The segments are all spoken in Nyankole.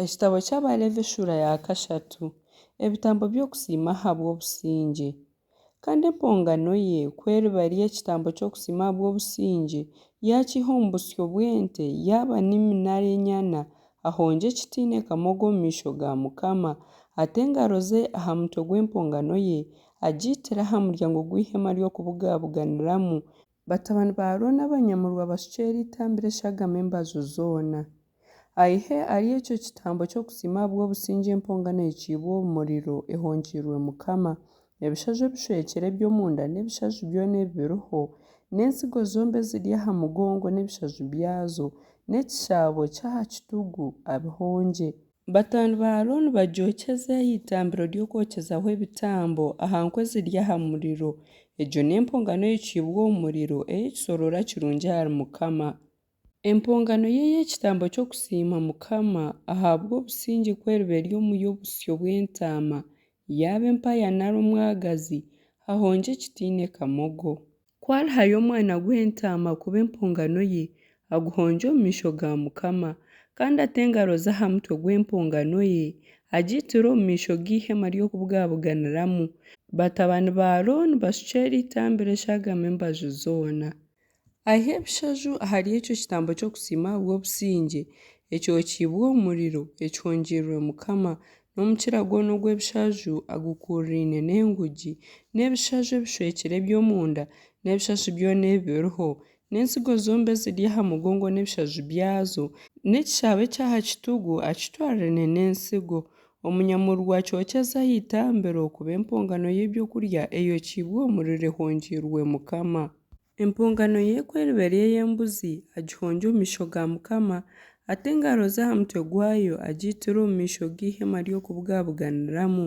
Ekitabo ky'Abalevi eshuura ya kashatu Ebitambo by'okusiima ahabw'obusingye Kandi empongano ye ku eriba eri ekitambo ky'okusiima ahabw'obusingye, yaakiiha omu busyo bw'ente, yaaba nimi nari enyana, ahongye ekitiine kamogo omu maisho ga mukama, ate engaro ze aha mutwe gw'empongano ye, agiitire aha muryango gw'eihema ry'okubugabuganiramu, Batabani ba Arooni abanyamurwa bashukye eri itambiro eshagame embaju zoona. Aihe ari ekyo kitambo ky'okusiima ahabw'obusingye empongano eicibwe omu muriro ehonkiirwe Mukama, ebishaju ebishwekire eby'omunda n'ebishaju byona ebibiriho, n'entsigo zombi eziri aha mugongo n'ebishaju byazo, n'ekishaabo ky'aha kitugu, abihongye. Batabani ba Arooni bagyokyeze aha itambiro ry'okwokyezaho ebitambo, aha nku eziri aha muriro. Egyo n'empongano eyokiibwe omu muriro, ey'ekisoroora kirungi ahari Mukama. Empongano ye ey'ekitambo ky'okusiima Mukama, ahabw'obusingye kw'eriba eri omu y'obusyo bw'entaama, yaaba empaya nari omwagazi, hahongye ekitaine kamogo. Ku alihayo omwana gw'entaama kuba empongano ye, aguhongye omu maisho ga Mukama, kandi ate engaro ze aha mutwe gw'empongano ye, agiitire omu maisho g'eihema ry'okubugabuganiramu, batabani ba Arooni bashukye eri eitambiro eshagame embaju zoona. Aihe ebishaju ahari ekyo kitambo ky'okusiima ahabw'obusingye, ekyokiibwe omu muriro, ekihongiirirwe Mukama, N'omukira gwona ogw'ebishaju agukuuriraine n'engugi, n'ebishaju ebishwekire eby'omunda, n'ebishaju byona ebibiriho, n'entsigo zombie eziri aha mugongo n'ebishaju byazo, n'ekishaabo eky'aha kitugu akitwariraine n'entsigo, omunyamururu akyokyeze aha itambiro kuba empongano y'eby'okurya eyokiibwe omuriro ehongiirwe Mukama. Empongano ye ku eriba eri ey'embuzi, agihongye omu maisho ga Mukama, ate engaro ze aha mutwe gwayo, agiitire omu maisho g'eihema ry'okubugabuganiramu.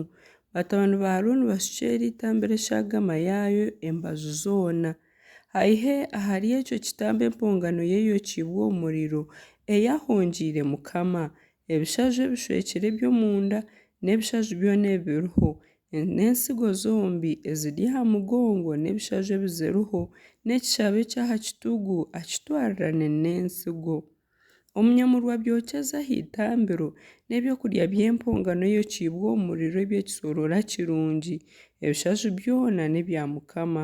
Batabani ba Arooni bashukye eri eitambiro eshagama yaayo embaju zoona. Aihe ahari ekyo kitambo empongano ye eyokyeibwe omu muriro, ei ahongyeire Mukama, ebishaju ebishwekire eby'omunda, n'ebishaju byona ebibiriho, N'entsigo zombi eziri aha mugongo n'ebishaju ebiziriho, n'ekishabo eky'aha kitugu akitwarirane n'entsigo. Omu nyamurwa byokyezo aha itambiro, n'eby'okurya by'empongano eyokiibwe omu muriro eby'ekisoroora kirungi, ebishaju byona n'ebya Mukama.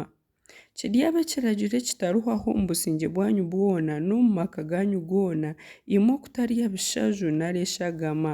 Kiryabe ekiragiro ekitarihwaho omu busingye bwanyu bwona n'omu maka ganyu goona, imwe okutarya bishaju nari eshagama.